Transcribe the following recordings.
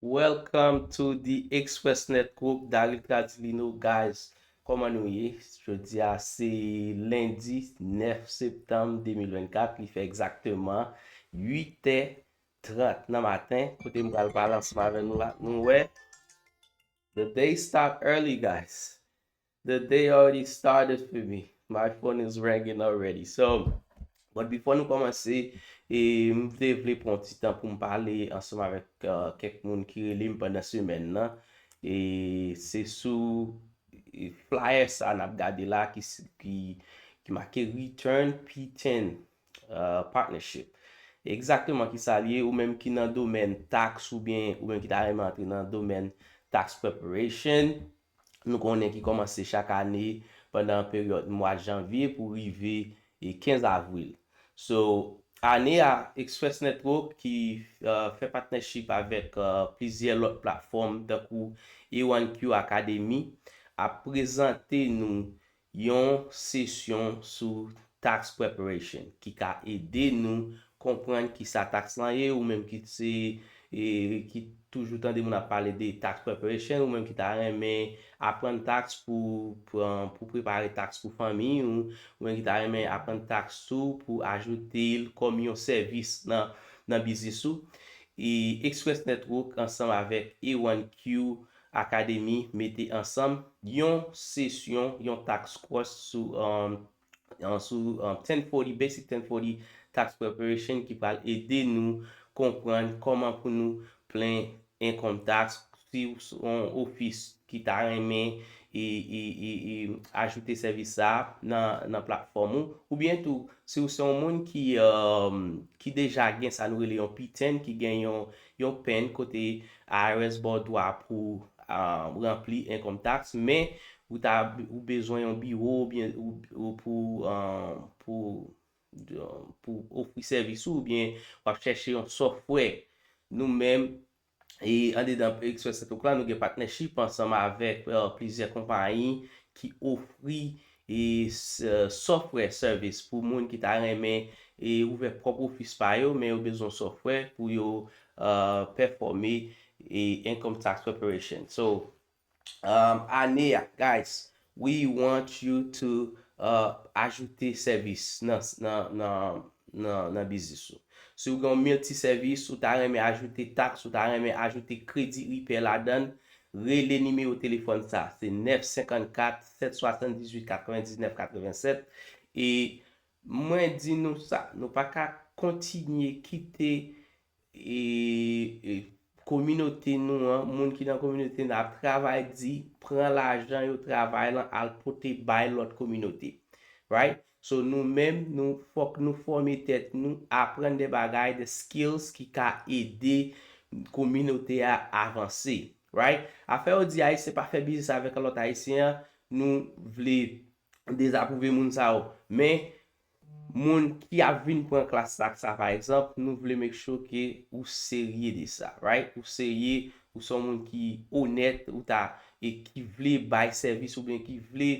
Welcome to the Expressnet group Daryl Tradilino guys kòman nou ye jodia se lendi 9 septanm 2024 li fè egzakteman 8 è 30 nan maten kote m pral pale ansanm avè nou la nou wè the day start early guys The day already started for me my phone is ringing already so but before nou komanse e m te vle pran yon ti tan pou m pale ansanm avèk kèk moun ki rele m pandan semèn nan e se sou flyer sa nap gade la ki make return piten partnership egzakteman kisa li ye ou menm ki nan domèn tax oubyen ou menm ki ta renmen antre nan domèn tax preparation. nou konnen ki kòmanse chak ane pandan peryòd mwa janvye pou rive 15 avril. So, ane a, Express Network ki fè patnèchip avèk plizyè lòt platfòm tankou Iranq Academy ap prezante nou Yon sesyon sou Tax Preparation ki ka ede nou konprann kisa tax lan ye, ou menm ki se ki toujou tande moun ap pale de Tax Preparation, ou menm ki ta renmen aprann tax pou pou prepare tax pou fanmiy ou, ou menm ki ta renmen aprann tax tou pou ajoute l kòm yon sèvis nan nan biznis ou, Express Network ansanm avèk A1Q Akademi mete ansanm yon sesyon, yon tax course sou sou 1040 Basic 1040 Tax Preparation ki pral ede nou konprann kòman pou nou plen income tax si w s on ofis ki ta renmen ajoute sèvis sa a nan nan platfòm ou oubyen tou si w se yon moun ki ki deja gen sa nou rele yon PTIN ki gen yon yon pen kote IRS ba w dwa pou w ranpli income tax, men ou ta ou bezwen yon biwo oubyen ou pou pou pou ofri sèvis ou oubyen w ap chèche yon software. Nou menm, e andedan Express Title Plan, nou gen partnership ansanm avèk plizyè konpayi ki ofri E Sòfwè Service pou moun ki ta renmen ouvè pwòp ofis pa yo men yo bezwen yon sòfwè pou yo pèfòme Income Tax Preparation. So, ane a, guys, we want you to ajoute sèvis nan biznis ou. Si ou gen yon multi-service, ou ta renmen ajoute tax, ou ta renmen ajoute kredi IRPER ladan, Rele nimewo telefòn sa a, se 954 778 99 87 e mwen di nou sa, nou pa ka kontinye kite kominote nou an, moun ki nan kominote nou an ap travay di, pran lajan yo travay lan al pote bay lòt kominote. Right? So nou menm nou fòk nou fòme tèt nou, aprann de bagay, de skills ki ka ede kominote a avanse. Right? Afè yo di Ayisyen pa fè biznis avèk lòt Ayisyen an, nou vle dezapwouve moun sa yo. Men, moun ki ap vin pran klas la ak sa pa egzanp, nou vle make sure ke ou serye de sa. Right? Ou serye, ou se yon moun ki onèt, ou ta, e ki vle bay sèvis oubyen ki vle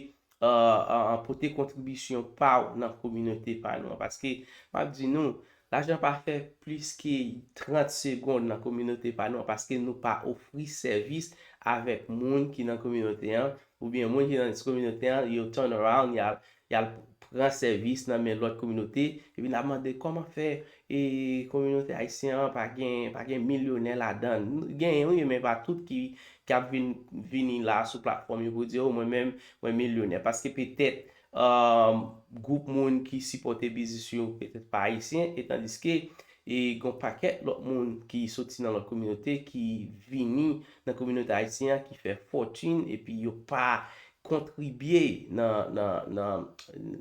pote kontribisyon pa w nan kominote pa nou an. Paske, m ap di nou, lajan pa fè plis ke 30 segond nan kominote pa nou an, paske nou pa ofri sèvis avèk moun ki nan kominote an, oubyen moun ki nan kominote an, yo turn around, y al pran sèvis nan men lòt kominote, epi n ap mande kòman fè E kominote ayisyen an pa gen pa gen milyonè ladan l? Genyen wi men pa tout ki ki ap vin vini la sou platfòm yo pou di o mwen menm mwen milyonè paske petèt gwoup moun ki sipòte biznis yo petèt pa ayisyen e tandiske e gon pakèt lòt moun ki soti nan lòt kominote ki vini nan kominote ayisyen an ki fè fòtin epi yo pa kontribye nan nan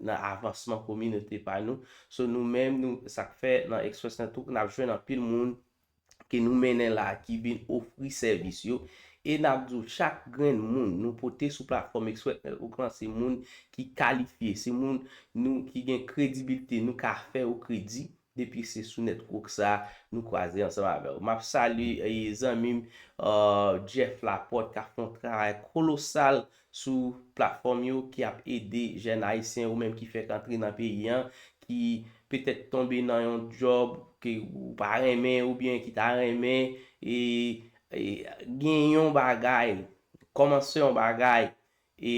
nan avansman kominote pa nou So nou menm nou sak fè nan express lan tou nap jwenn anpil moun ke nou mennen la ki vin ofri sèvis yo e nap di w chak grenn moun nou pote sou platfòm express network lan se moun ki kalifye se moun nou ki gen kredibilte nou ka fè ou kredi depi se sou network sa nou kwaze ansanm avè w map salye zanmim Jeff Laporte kap fè yon travay kolosal sou platfòm yo ki ap ede jèn ayisyen ou menm ki fèk antre nan peyi an ki petèt tonbe nan yon djòb ke ou pa renmen oubyen ki ta renmen e gen yon bagay kòmanse yon bagay e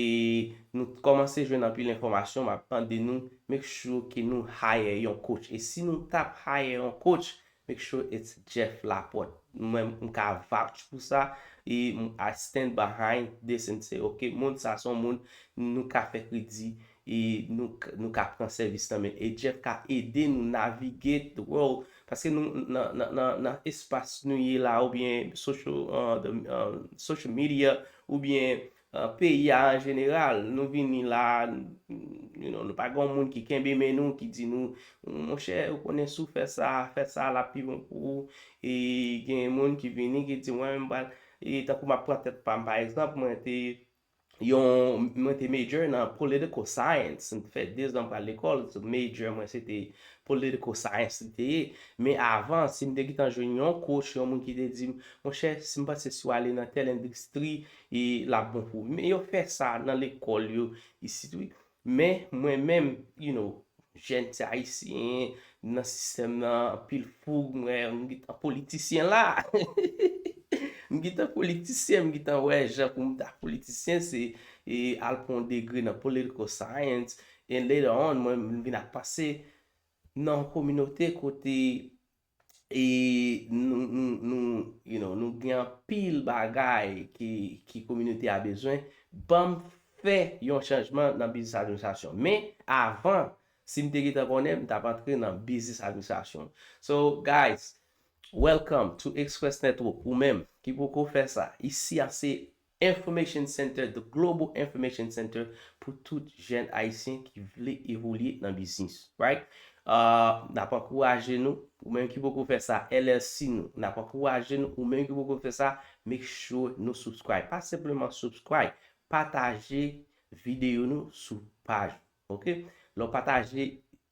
nou t kòmanse jwenn anpil enfòmasyon map mande nou make sure ke nou hire yon coach e si nou tap hire yon coach Make sure it's Jeff Laporte. M menm m ka vouch pou sa e I stand behind this and say ok moun sa son moun nou ka fè kredi e nou ka pran sèvis nan men e Jeff ka ede nou navigate the world paske nou nan espas nou ye la oubyen social media oubyen Peyi a an jeneral, nou vini la a, you know, nou pa gen yon moun ki kenbe men nou, ki di nou, monchè, ou konnen si w fè sa, fè sa, l ap pi bon pou ou. E gen moun ki vini ki di, mwen menm m pral, e tankou m ap pran tèt pa m pa egzanp, mwen te yon, mwen te major nan political science, m te fè 2 zan m pa al lekòl, major mwen se te political science li te ye. Men avan, si m te gentan jwenn yon coach, yon moun ki te di m, monchè, si m panse si w ale nan tèl endistri, E lap bon pou wi. Men yo fè sa nan lekòl yo isit wi. Men mwen menm you know jèn ti ayisyen m nan sistèm nan anpil foug m wè m gntan politisyen la m gntan politisyen m gntan wè jan pou m ta politisyen se al pran yon degre nan political science and later on mwen vin ak panse nan yon kominote kote E nou gen anpil bagay ki kominote a bezwen. Banm fè yon chanjman nan biznis administrasyon. Men, avan, si m te gentan konnen, m t ap antre nan biznis administrasyon. So, guys, welcome to Express Network. Ou menm ki poko fè sa, isi a se Information Center, The Global Information Center pou tout jèn Ayisyen ki vle evolye nan biznis. Right? Ahh, n ap ankouraje nou. Ou menm ki poko fè sa, LLC nou, n ap ankouraje nou. Ou menm ki poko fè sa, make sure nou subscribe. Pa senpleman subscribe, pataje videyo nou sou paj ou. Ok lè w pataje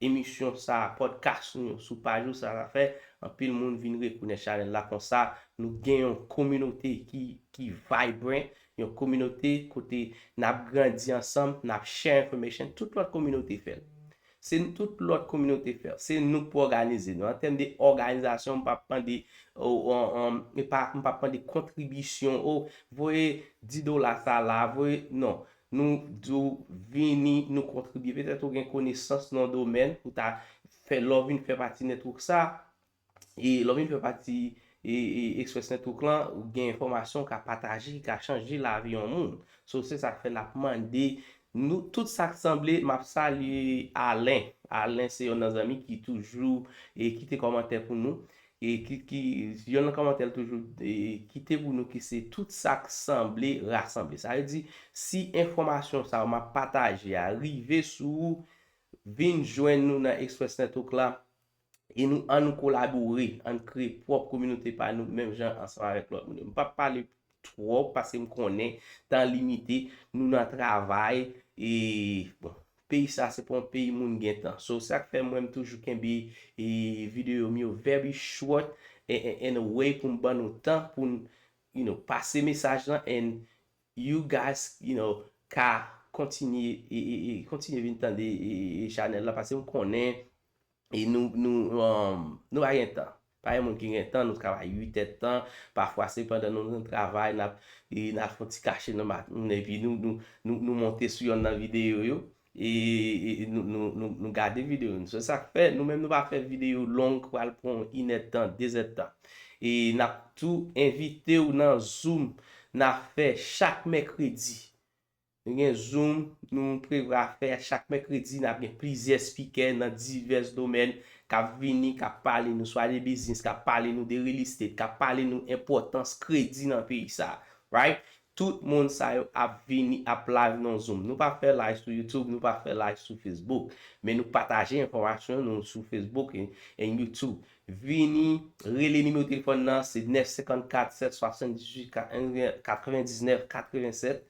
emisyon sa podcast nou yo sou paj ou sa sa fè anpil moun vin rekonèt chanèl la konsa nou gen yon kominote ki ki vibrant yon kominote kote nap grandi ansanm nap share information tout lòt kominote fè l se n tout lòt kominote fè l se nou k pou òganize nou an tèm de òganizasyon m pap mande m pap mande kontribisyon oh voye 10 dola sa la voye non Nou di w vini nou kontribye. Petèt ou gen konesans nan yon domèn pou ta fè lè w vin fè pati network sa. E lè w vin fè pati Express Network lan, ou gen enfòmasyon w ka pataje ki ka chanje lavi yon moun. So se sa k fè n ap mande nou tout sa k sanble. M ap salye Alain. Alain se yonn nan zanmi ki toujou kite kòmantè pou nou. Ki Yon nan kòmantè l toujou kite pou nou ki se tout sa k sanble rasanble. Sa vle di si enfòmasyon sa yo m ap pataje a rive sou ou, vin jwenn nou nan Express Network la e nou an nou kolabore, an n kreye pwòp kominote pa nou menm jan ansanm avèk lòt moun yo. M p ap pale Twòp paske m konnen tan limite nou nan travay e bon peyi sa se pa yon peyi moun gen tan so sak fè mwen m toujou kenbe videyo m yo very short and a way pou m ban nou tan pou n you know pase mesaj lan and you guys you know ka kontinye kontinye vin tande chanèl la paske m konnen E nou nou nou pa gen tan. Pa gen moun ki gen tan, nou travay 8 èd tan, pafwa se pandan nou nan travay nap e nap fon ti kache nan maten epi nou nou nou nou monte sou yonn nan videyo yo e nou nou nou nou gade videyo yo. Se sak fè nou menm nou pa fè videyo long ki pral pran w inèd tan, dezèd tan. E nap tou envite w nan zoom na fè chak mèkredi. Nou gen zoom nou prevra fè chak mèkredi nap gen plizyè spikè nan divès domèn kap vini kap pale nou swa de biznis kap pale nou de real estate kap pale nou enpòtans kredi nan peyi sa right tout moun sa yo ap vini ap live nan zoom nou pa fè live sou youtube nou pa fè live sou facebook men nou pataje enfòmasyon nou sou facebook and youtube vini rele nimewo telefòn nan se 954 778 99 87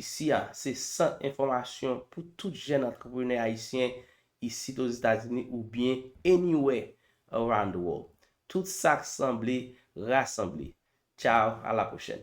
Isi a, se sant enfòmasyon pou tout jèn antreprenè ayisyen isit Ozetazini oubyen anywhere around the world. Tout sak sanble rasanble. Ciao, a la pwochèn.